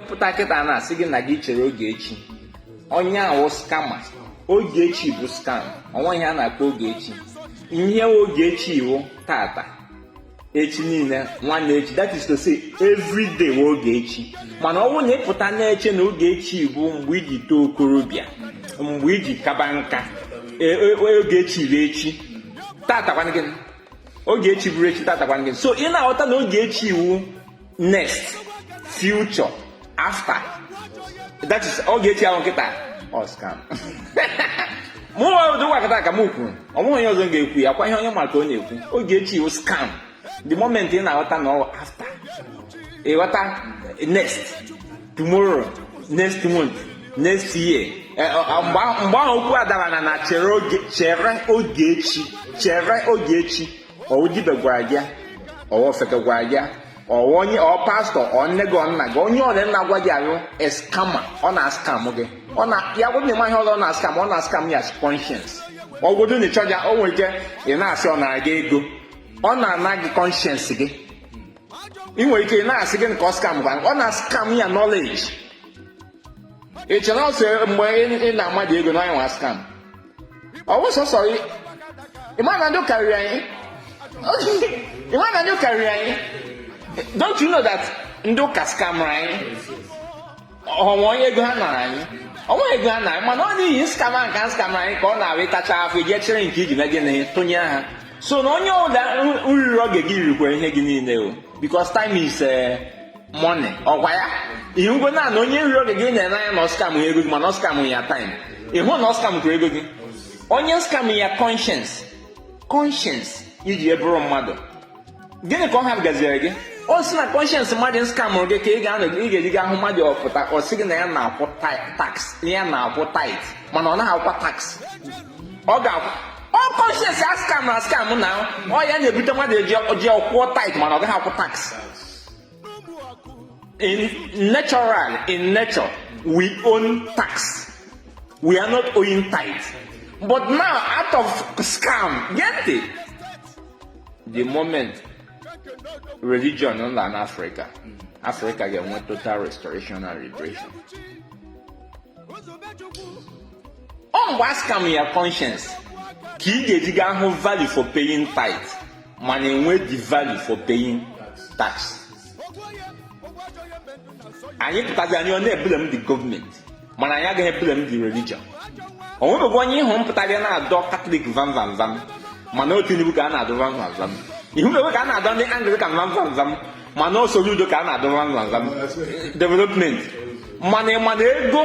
pụta kịta na-asị gị na gị chere oge chi onye ahụ wụ scammer oge chi bụ scam o nweghị ihe a na-akpọ oge chi ihe oge chi wụ tata echi niile nwanne echi that is to say every day wụ oge chi mana ọ bụrụ na ị pụta na-eche na oge chi bụ mgbe i ji too okorobịa mgbe i ji kaba nka e, e, e, oge chi bụ echi tata kwanụ gịnị oge chi bụrụ echi tata kwanụ gịnị so ị na-aghọta na oge chi wụ next future after that is oge chi ahụ kịta ọ scam mụ wụ Odogwu Akataka m kwuru o nweghị onye ọzọ ga-ekwu ya kwa ihe onye ma ka ọ na-ekwu oge chi wụ scam the moment ị na-aghọta na ọ after ịghọta next tomorrow next month next year eh, eh, eh, mgbe ahụ okwu adara na na chere oge chi chere oge chi ọ wụ dibịa gwara gị ọ wụ ofeke gwara gị ọ wụ onye ọ pastọ ọ nne gị ọ nna gị onye ọwụla na-agwa gị ya wụ scammer ọ na-askam gị ọ na ya gwụ na ị maghị ihe ọ na-askam ọ na-askam ya conscience ọgwụdụ na ịchọja o nwere ike ị na-asị ọ nara gị ego ọ na-ana gị conscience gị ị nwere ike ị na-asị gịnị ka ọ scam gị ọ na-askam ya knowledge ị chere ọ sọ mgbe ị nara mmadụ ego na onye wụ scam ọ wụ sọsọ ị ma na ndị ụka riri anyị ị ma na ndị ụka riri anyị don't you know that ndị ụka skamụrụ anyị o nwere ego ha nara anyị o nweghị ego ha nara mana ọ n'ihi scam a nke a skamụrụ anyị ka ọ na-awụ ịtacha afọ iji echere nke iji na gị na-atụnye ha so na onye ọwụla riri oge gị rikwara ihe gị niile o because time is eh, money ọ kwa ya ihe ngwe na na onye riri oge gị nyere n'anya na ọ scam ya ego gị mana ọ scam ya time ị hụ na ọ scam kwuru ego gị onye scam ya conscience conscience i ji ya bụrụ mmadụ gịnị ka ọ ha gaziere gị o si na conscience mmadụ skamụrụ gị ka ị ga-anọ ị ga-eji gị ahụ mmadụ ọ pụta ọ sị gị na ya na-akwụ tax ya na-akwụ tithe mana ọ naghị akwụkwa tax ọ ga-akwụ ọ conscience a skam na skam na ọ ya na-ebute mmadụ e ji akwụ tithe mana ọ gaghị akwụ tax In natural, in nature, we own tax. We are not owing tithe. But now, out of scam, get it? The moment religion in Africa, Africa get one total restoration and liberation. ọ mgbe a scam ya conscience ka ị ga-eji gaa hụ value for paying tithe mana enwe the value for paying tax anyị pụtazi anyị a na-eblame the government mana anyị agaghị eblame the religion o nwebeghị onye ị hụrụ pụtara na-adọ Catholic vam vam vam mana ọ Tinubu ka a na-adọ vam vam vam ị hụ na ka a na-adọ ndị Anglican vam vam vam mana ọ Soludo ka a na-adọ vam vam vam development mana ị ma na ego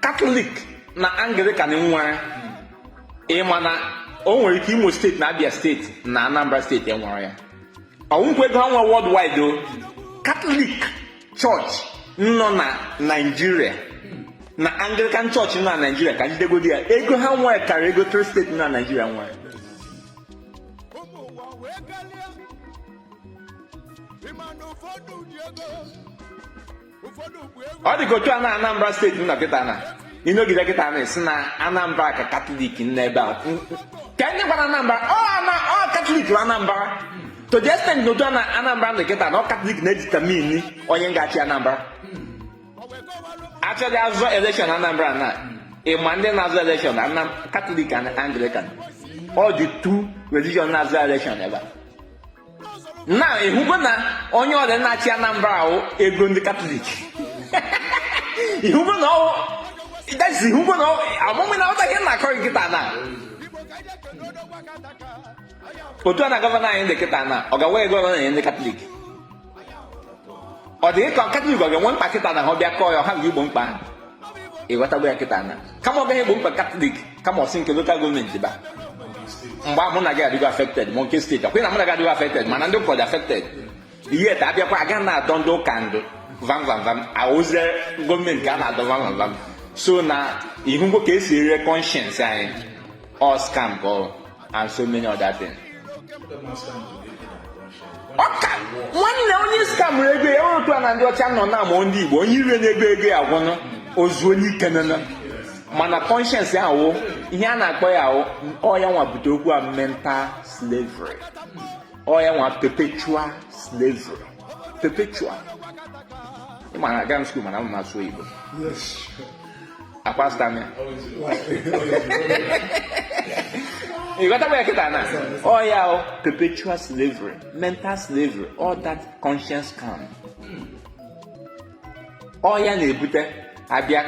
Catholic na Anglican nwere ị ma na o nwere ike imo steeti na abia steeti na anambra steeti enwere ya ọnwụkwa ego ha nwe worldwide o katọlik chọọchị nọ na naijiria na anglican chọọchị nọ na naijiria ka m jidegodi ya ego ha nwere karịa ego tri steeti nọ na naijiria nwere ịma na ụfọdụ ji ego ọ dị ka otu a na Anambra steeti nọ kịta na ịnọgide kịta na asị na Anambra ka katọlik n'ebe a ka ndị gwara Anambra ọ katọlik bụ Anambra to the extent na otu a na Anambra nọ kịta na ọ katọlik na-editamini onye ga-achị Anambra a chọọ ịzọ elekshọn Anambra na ịma ndị na-azọ elekshọn katọlik na Anglican ọ the two religion na-azọ elekshọn ebe a na ịhụgo na onye ọrịa na-achị anambra ahụ ego ndị katọlik ịhụgo na ọwụ dasi ịhụgo na amụmụ na ọta ihe na-akọ kịta na otu a na gọvanọ anyị dị kịta na ọ gawa ego ọrụ na ndị katọlik ọ dị ka katọlik ọ ga-enwe mkpa kịta na ha bịa kọọ ya ha ga-egbo mkpa ha ịghọtago ya kịta na kama ọ gaghị egbo mkpa katọlik kama o si nke lokal gọọmenti ba mgbe mụ na gị adịgo afekted ma nke steeti akwụghị na mụ na gị adịgo afekted mana ndị ụka adịghị afekted yet abịakwa aga na-adọ ndị ụka ndụ vam vam vam awụzi gọọmenti ka a na-adọ vam vam vam so na ịhụgo ka esi ere kọnshens anyị all scam ka ọ and so many other things. ọka nwanne onye scam ego ya otu a na ndị ọcha nọ na amụọ ndị igbo onye ire na-ego ego ya gwụnụ ozu onye ike nana mana conscience ya awụ ihe a na-akpọ ya awụ ọ ya nwa bute okwu a mental slavery ọ ya nwa perpetual slavery perpetual ị ma na aga m skuul mana m na-asụ Igbo akpasta m ya ịghọtakwa ya kịta na ọ ya wụ perpetual slavery mental slavery all that conscience scam ọ ya na-ebute abịa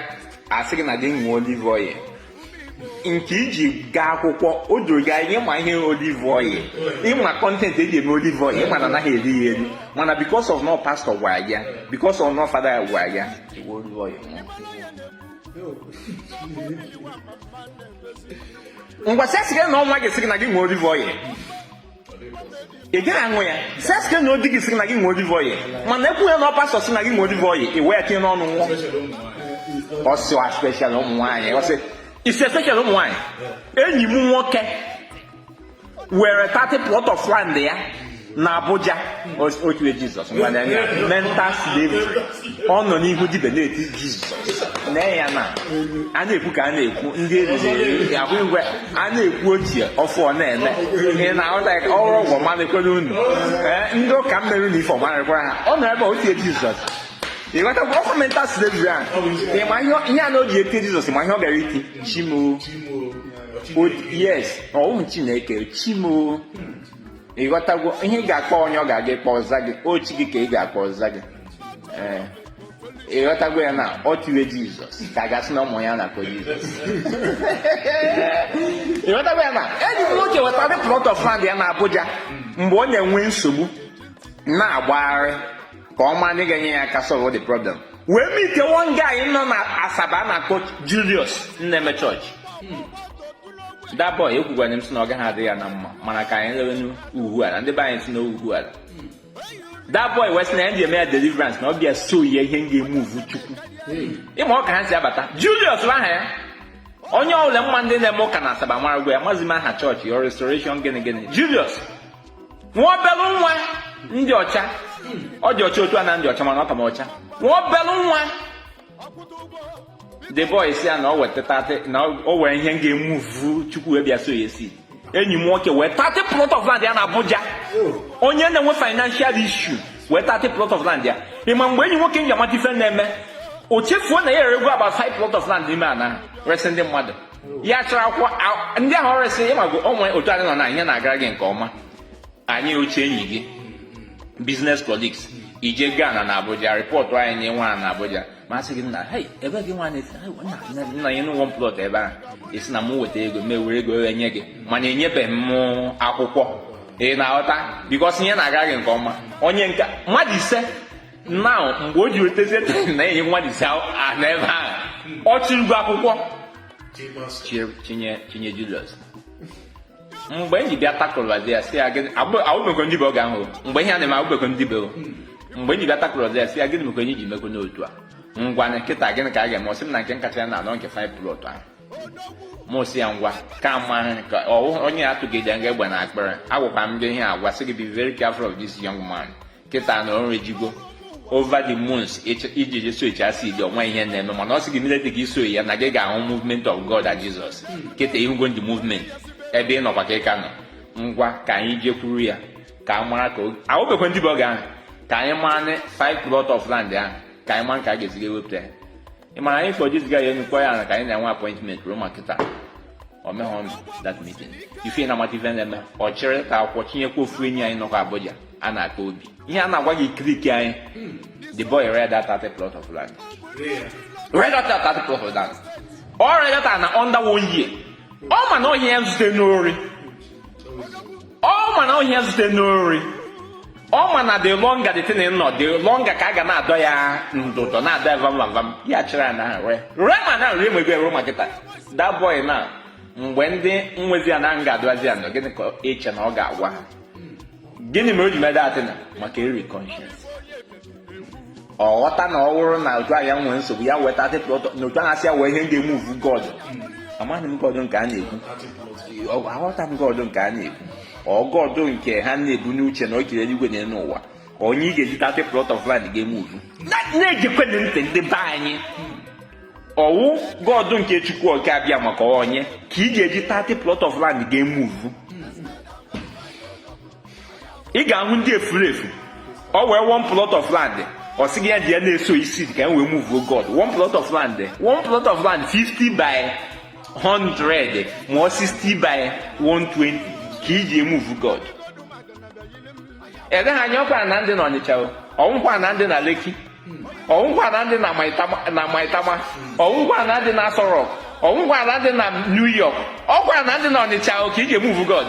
asị gị na gị ṅụọ olive oil nke iji gaa akwụkwọ o doro gị anya ịma ihe olive oil ịma kọntentị eji eme olive oil ịma na anaghị eri ya eri mana because of na ọ pastọ gwara ya because of na ọ fada ya gwara ya ị ṅụọ olive oil ngwa sị asị gị na ọ nwa gị sị gị na gị ṅụọ olive oil ị gaghị aṅụ ya sị asị gị na ọ di gị sị na gị ṅụọ olive oil mana ekwu ya na ọ pastọ sị na gị ṅụọ olive oil ị wee tinye n'ọnụ ṅụọ most especially ụmụ nwaanyị most especially ụmụ nwaanyị enyi m nwoke were 30 plot of land ya na Abuja o tie Jizọs ngwanụ ya mental slavery ọ nọ n'ihu dibịa na-eti Jizọs na ya na a na-ekwu ka a na-ekwu ndị eriri ahụ igwe a na-ekwu ochie ọfụ ọ na-eme ị na-ahụta ka ọrụ ọgwụ ọmalịkwere unu ee ndị ụka mmerụ na ife ọmalịkwara ha ọ nọ ebe a o tie jizọs ịghọtakwa ọ kwa mental slavery a ịma ihe ọ- ihe a na o ji eti jizọs ma ihe ọ gara iti chi m o O- yes ọ wụ chineke chi m o ịghọtagwo ihe ị ga-akpọ onye ọ ga-aga ịkpọ ọ zaa gị ọ chi gị ka ị ga-akpọ ọ zaa gị ee ịghọtagwo ya na o tiwe jizọs ka a ga-asị na ụmụ ya na-akpọ jizọs ịghọtagwo ya na enyi m nwoke wee thirty plot of land ya na abuja mgbe ọ na-enwe nsogbu na-agbagharị ka ọ ma ndị ga-enye ya aka solve the problem wee meet one guy nọ na asaba a na-akpọ Julius na-eme church that boy ekwugwara m sị na ọ gaghị adị ya na mma mana ka anyị lewe n'ugwu ala ndị be anyị si n'ugwu ala that boy wee sị na ya ji eme ya deliverance na ọ bịa sow ya ihe ga-emuvu chukwu ị ma ọ ka ha si abata Julius bụ aha ya onye ọbụla ma ndị na-eme ụka na asaba marakwa ya amazi m aha chọọchị ya restoration gịnị gịnị Julius nwa obele nwa dị ọcha ọ dị ọcha otu a m dị ọcha mana ọ ka m ọcha nwa obele nwa the boy sị ya na ọ weta na o wee ihe ga-emuvu chukwu wee bịa sow ya sị enyi m nwoke wee thirty plot of land ya na abuja onye na-enwe financial issue wee thirty plot of land ya ị ma mgbe enyi m nwoke ji amata ife na-eme o chefuo na ya erego about five plot of land n'ime ana ahụ resị ndị mmadụ ya chịrị akwụkwọ ndị ahụ o resị ị mago o nwe otu anyị nọ na ihe na-agara gị nke ọma anyị ochie enyi gị business colleagues ije Ghana na Abuja rịpọtụ anyị nye nwa na Abuja mụ asị gị nna ebe gị nwa nna nyenụ m one plot ebe ahụ ị sị na m weta ego mụ ewere ego wee nye gị mana enyebeghị m akwụkwọ ị na-aghọta because ihe na-agara gị nke ọma onye nke mmadụ ise now mgbe o ji wetezie na e nwe mmadụ ise na ebe ahụ ọ chịrịgo akwụkwọ chinye chinye julius mgbe anyị bịa takụlụbazi ya sị ya gịnị awụbekwa m dibịa oge ahụ mgbe ihe a na-eme awụbekwa m dibịa mgbe anyị bịa takụlụbazi ya sị ya gịnị mekwanụ i ji mekwanụ otu a ngwanụ kịta gịnị ka a ga-eme ọ sị m na nke kacha ya na anọ nke five plot ahụ mụ sị ya ngwa kama ka ọ wụ onye atụgide gị egbe na akpịrị agwakwa m gị ihe a gwa sị gị be very careful of this young man kịta na o ruzigo over the months i ji sowchaa seed ọ nwe ihe na-eme mana ọ sị gị immediately ị sow ya na gị ga-ahụ movement of God and Jesus kịta ị hụgo ndị movement ebe ị nọkwa ka ị ka nọ ngwa ka anyị jekwuru ya ka a mara ka awụbekwa m dibịa oge ahụ ka anyị mara 5 plot of land ahụ ka anyị mara ka a ga-esi ewepụta ya ị mara anyị kpọ jiziga ya enyekwa ya na ka anyị na-enwe appointment ruo ma kịta o mehọ that meeting ife na-amata ife na-eme ọ chịrị ka akwụkwọ chinyekwa ofu enyi anyị nọkwa Abuja a na-akpọ Obi ihe a na-agwa gị kiriki anyị the boy ree that thirty plot of land ree that thirty plot of land o ree that na under one year ọ ma na ọ ihe ya zute n'ori ọ ma na ọ ihe ya zute n'ori ọ ma na the longer the thing nọ the longer ka a ga na-adọ ya ndụdọ na-adọ ya vam vam vam ya chịrị ya na-ere ree ma na nri emegbe ruo ma kịta that boy na mgbe ndị nwezi ana ga-adụazi ya nọ gịnị ka i che na ọ ga-agwa ha gịnị mere o ji mee that thing a maka eri conscience ọ ghọta na ọ wụrụ na otu ahịa nwee nsogbu ya weta na otu ahụ asị ya wee ihe ga-emuvu god amaghị m god nke a na-ekwu aghọta m god nke a na-ekwu god nke ha na-ebu n'uche na o kere eluigwe na elu ụwa onye ị ga-eji thirty plot of land ga-emuvu na-egekwanụ ntị ndị be anyị ọ wụ god nke Chukwu oke Abịama ka onye ka ị ga-eji thirty plot of land ga-emuvu ị ga-ahụ ndị efuru efu ọ wee one plot of land ọ sị gị ya ji ya na-eso seed ka e wee move god one plot of land one plot of land 50 by 100 ma ọ 60 by 120 ka i ji emuvu god eleghị anya ọ kwa ana dị na Ọnịcha ọ wụkwa ana dị na Lekki ọ wụkwa ana dị na Maitama ọ wụkwa ana dị na Aso Rock ọ wụkwa ana dị na New York ọ kwa ana dị na Ọnịcha ka i ji emuvu god